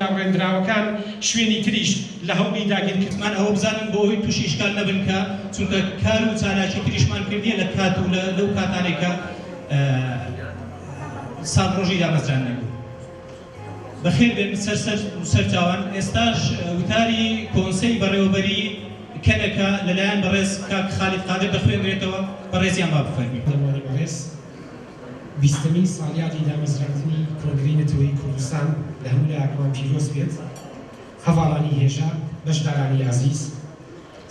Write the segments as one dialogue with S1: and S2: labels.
S1: داڕێندراوەکان شوێنی تریش لە هەوڵی داگیرکردنن. من ئەوە بزانم بۆ ئەوەی تووشی ئیشکال نەبن کە چونکە کار و چالاکی تریشمان کردیە لە کات و لەو کاتانەی کە ساڵڕۆژی دامەزراندنی بوو. بەخێر بێن سەر سەر و سەر چاوان. ئێستاش وتاری کۆنسەی بەڕێوەبەری کەنەکە لە لایەن بەڕێز کاک خالید قادر دەخوێنرێتەوە، بەڕێزیان با بفەرموین. پەروانە بەڕێز،
S2: بیستەمین ساڵیادی دامەزراندنی کۆنگرەی نەتەوەیی کوردستان لە هەموو لایەکمان پیرۆز بێت. هەڤاڵانی هێژا، بەشدارانی ئازیز،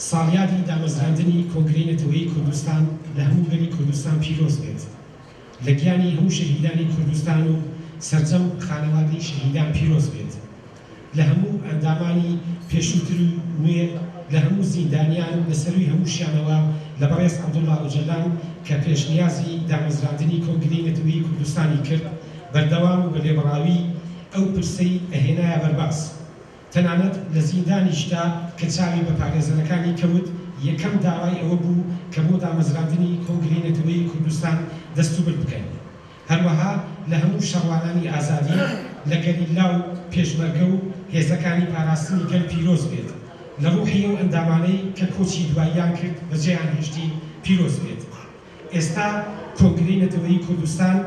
S2: ساڵیادی دامەزراندنی کۆنگرەی نەتەوەیی کوردستان لە هەموو گەلی کوردستان پیرۆز بێت. لە گیانی هەموو شەهیدانی کوردستان و سەرجەم خانەوادەی شەهیدان پیرۆز بێت لە هەموو ئەندامانی پێشووتر و نوێ لە هەموو زیندانیان لە سەرووی هەمووشیانەوە لە بەڕێز عەبدوڵا ئۆجەلان کە پێشنیازی دامەزراندنی کۆنگرەی نەتەوەیی کوردستانی کرد بەردەوام و بە لێبڕاوی ئەو پرسەی ئەهێنایە بەرباس تەنانەت لە زیندانیشدا کە چاوی بە پارێزەرەکانی کەوت، یەکەم داوای ئەوە بوو کە بۆ دامەزراندنی کۆنگرەی نەتەوەیی کوردستان دەستوبرد بکەن. هەروەها لە هەموو شەڕوانانی ئازادی، لە گەریلا و پێشمەرگە و هێزەکانی پاراستنی گەل پیرۆز بێت، لە ڕوحی ئەو ئەندامانەی کە کۆچی دواییان کرد بەجێیان هێشتی پیرۆز بێت. ئێستا کۆنگرەی نەتەوەیی کوردستان،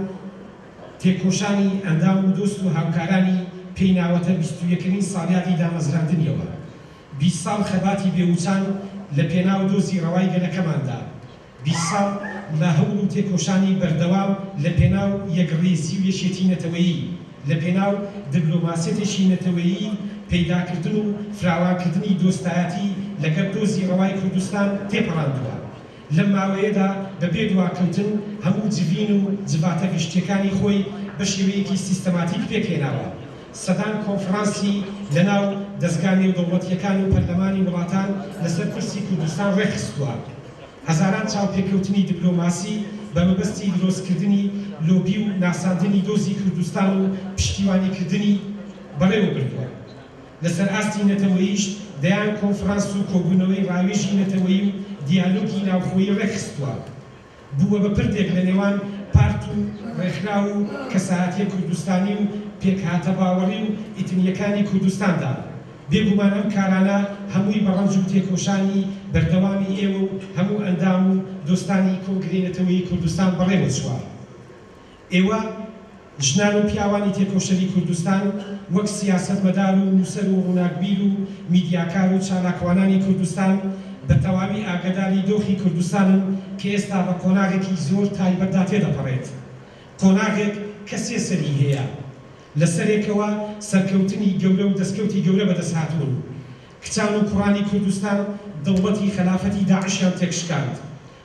S2: تێکۆشانی ئەندام و دۆست و هاوکارانی پێی ناوەتە بیست و یەکەمین ساڵیادی دامەزراندنیەوە، بیست ساڵ خەباتی بێ وچان لە پێناو دۆزی ڕەوای گەلەکەماندا، بیست ساڵ لە هەوڵ و تێکۆشانی بەردەوام لە پێناو یەکڕیزی و یەکێتی نەتەوەیی، لە پێناو دبلۆماسیەتێکی نەتەوەیی پەیداکردن و فراوانکردنی دۆستایەتی لەگەڵ دۆزی ڕەوای کوردستان تێپەڕاندووە. لەم ماوەیەدا بە بێ دواکەوتن هەموو جڤین و جڤاتە گشتییەکانی خۆی بە شێوەیەکی سیستەماتیک پێکهێناوە. سەدان کۆنفرانسی لە ناو دەزگا نێودەوڵەتییەکان و پەرلەمانی وڵاتان لە سەر پرسی کوردستان ڕێکخستووە. هەزاران چاوپێکەوتنی دبلۆماسی بە مەبەستی درۆستکردنی لۆبی و ناساندنی دۆزی کوردستان و پشتیوانیکردنی بەڕێوە بردووە. لەسەر ئاستی نەتەوەییش دەیان کۆنفرانس و کۆبوونەوەی ڕاوێژی نەتەوەیی و دیالۆگی ناوخۆیی ڕێکخستووە، بووە بە پردێک لە نێوان پارت و ڕێکخراو و کەسایەتییە کوردستانی و پێکهاتە باوەڕی و ئیتنییەکانی کوردستاندا. بێگومان ئەم کارانە هەمووی بە ڕەنج و تێکۆشانی بەردەوامی ئێوە و هەموو ئەندام و دۆستانی کۆنگرەی نەتەوەیی کوردستان بەڕێوەچووە. ئێوە ژنان و پیاوانی تێکۆشەری کوردستان وەک سیاسەتمەدار و نووسەر و ڕووناکبیر و میدیاکار و چالاکوانانی کوردستان بە تەواوی ئاگەداری دۆخی کوردستانن کە ئێستا بە قۆناغێکی زۆر تایبەتدا تێدەپەڕێت قۆناغێک کە سێ سەری هەیە لە سەرێکەوە سەرکەوتنی گەورە و دەستکەوتی گەورە بەدەست هاتوون کچان و کوڕانی کوردستان دڵبەتی خەلافەتی داعشیان تێکشکاند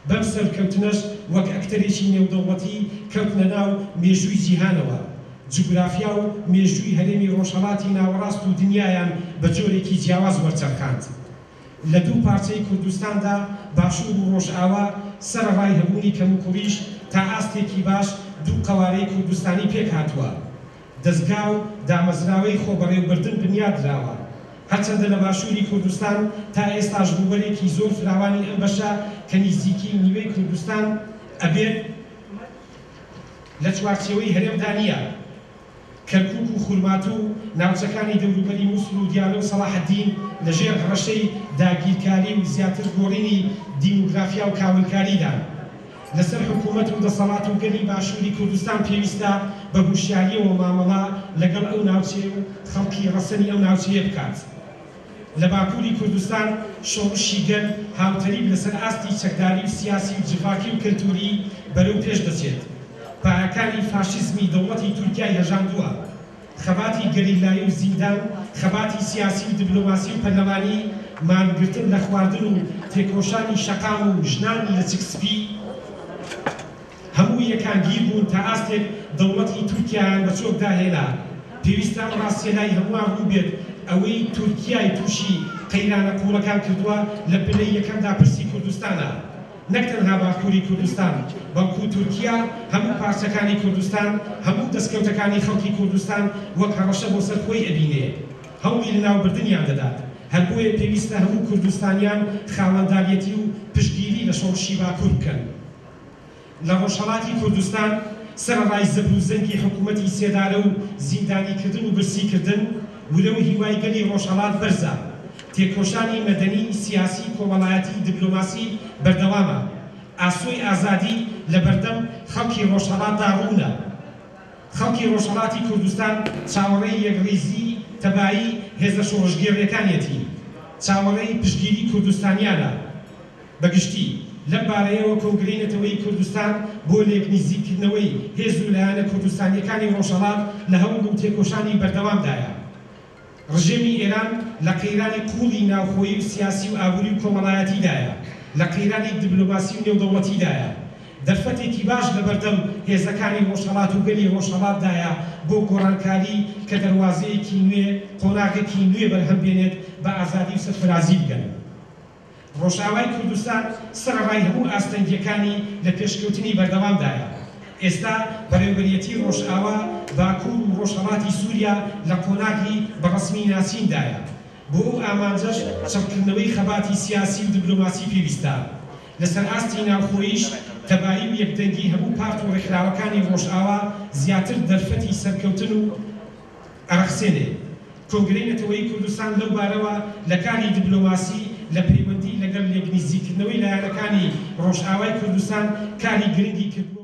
S2: بەم سەرکەوتنەش وەک ئەکتەرێکی نێودەوڵەتی کەوتنە ناو مێژووی جیهانەوە، جوگرافیا و مێژووی هەرێمی ڕۆژهەڵاتی ناوەڕاست و دنیایان بە جۆرێکی جیاواز وەرچەرخاند. لە دوو پارچەی کوردستاندا، باشوور و ڕۆژئاوا، سەرەڕای هەبوونی کەموکوڕیش، تا ئاستێکی باش دوو قەوارەی کوردستانی پێکهاتووە. دەزگا و دامەزراوەی خۆبەڕێوبردن بنیادراوە، هەرچەندە لە باشووری کوردستان تا ئێستاش ڕووبەرێکی زۆر فراوانی ئەم بەشە کە نیزیکەی نیوەی کوردستان ئەبێت لە چوارچێوەی هەرێمدا نییە، کەرکووک و خورماتوو و ناوچەکانی دەوروبەری موسڵ و دیالە و سەڵاحەدین لەژێر هەڕەشەی داگیرکاری و زیاتر گۆڕینی دیمۆگرافیا و کاولکاریدان. لەسەر حکوومەت و دەسەڵات و گەلی باشووری کوردستان پێویستە بە هوشیارییەوە مامەڵە لەگەڵ ئەو ناوچەیە و خەڵکی ڕەسەنی ئەو ناوچەیە بکات. لە باکووری کوردستان شۆڕشی گەل هاوتەریب لەسەر ئاستی چەکداری و سیاسی و جڤاکی و کەلتووری بەرەو پێش دەچێت. پایەکانی فاشیزمی دەوڵەتی تورکیای هەژاندووە. خەباتی گەریلایی و زیندان، خەباتی سیاسی و دبلۆماسی و پەرلەمانی، مانگرتن لە خواردن و تێکۆشانی شەقام و ژنانی لەچک سپی، هەموو یەکانگیر بوون تا ئاستێک دەوڵەتی تورکیایان بە چۆکدا هێنا. پێویستە ئەم ڕاستیە لای هەمووان ڕوون بێت، ئەوەی تورکیای تووشی قەیرانە قووڵەکان کردووە لە پلەی یەکەمدا پرسی کوردستانە. نەک تەنها باکووری کوردستان، بەڵکو تورکیا هەموو پارچەکانی کوردستان، هەموو دەستکەوتەکانی خەڵکی کوردستان وەک هەڕەشە بۆ سەر خۆی ئەبینێ، هەوڵی لەناوبردنیان دەدات. هەر بۆیە پێویستە هەموو کوردستانیان خاوەنداریەتی و پشتگیری لە شۆڕشی باکوور بکەن. لە ڕۆژهەڵاتی کوردستان سەرەڕای زەبر و زەنگی حکوومەتی سێدارە و زیندانیکردن و برسیکردن، ورە و هیوای گەلی ڕۆژهەڵات بەرزە. تێکۆشانی مەدەنی، سیاسی، کۆمەڵایەتی، دبلۆماسی بەردەوامە. ئاسۆی ئازادی لە بەردەم خەڵکی ڕۆژهەڵاتدا ڕوونە. خەڵکی ڕۆژهەڵاتی کوردستان چاوەڕێی یەکڕیزی تەبایی هێزە شۆڕشگێڕیەکانیەتی، چاوەڕێی پشتگیری کوردستانیانە بە گشتی. لەم بارەیەوە کۆنگرەی نەتەوەیی کوردستان بۆ لێکنیزیککردنەوەی هێز و لایەنە کوردستانیەکانی ڕۆژهەڵات لە هەوڵ و تێکۆشانی بەردەوامدایە. ڕژێمی ئێران لە قەیرانی قووڵی ناوخۆیی و سیاسی و ئابووری و کۆمەڵایەتیدایە، لە قەیرانی دبلۆماسی و نێودەوڵەتیدایە. دەرفەتێکی باش لە بەردەم هێزەکانی ڕۆژهەڵات و گەلی ڕۆژهەڵاتدایە بۆ گۆڕانکاری کە دەروازەیەکی نوێ، قۆناغێکی نوێ بەرهەم بێنێت بە ئازادی و سەرفرازی بگەن. ڕۆژئاوای کوردستان سەرەڕای هەموو ئاستەنگییەکانی لە پێشکەوتنی بەردەوامدایە. ئێستا بەڕێوبەرێتی ڕۆژئاوا، باکوور و ڕۆژهەڵاتی سووریا لە قۆناغی بە ڕەسمی ناسیندایە. بۆ ئەو ئامانجەش چڕکردنەوەی خەباتی سیاسی و دبلۆماسی پێویستە. لەسەر ئاستی ناوخۆییش تەبایی و یەکدەنگی هەموو پارت و ڕێکخراوەکانی ڕۆژئاوا زیاتر دەرفەتی سەرکەوتن و ئەڕەخسێنێ. کۆنگرەی نەتەوەیی کوردستان لەو بارەوە لە کاری دبلۆماسی لە پەیوەندی لەگەڵ لێکنزیکردنەوەی لایەنەکانی ڕۆژئاوای کوردستان کاری گرنگی کردووە و،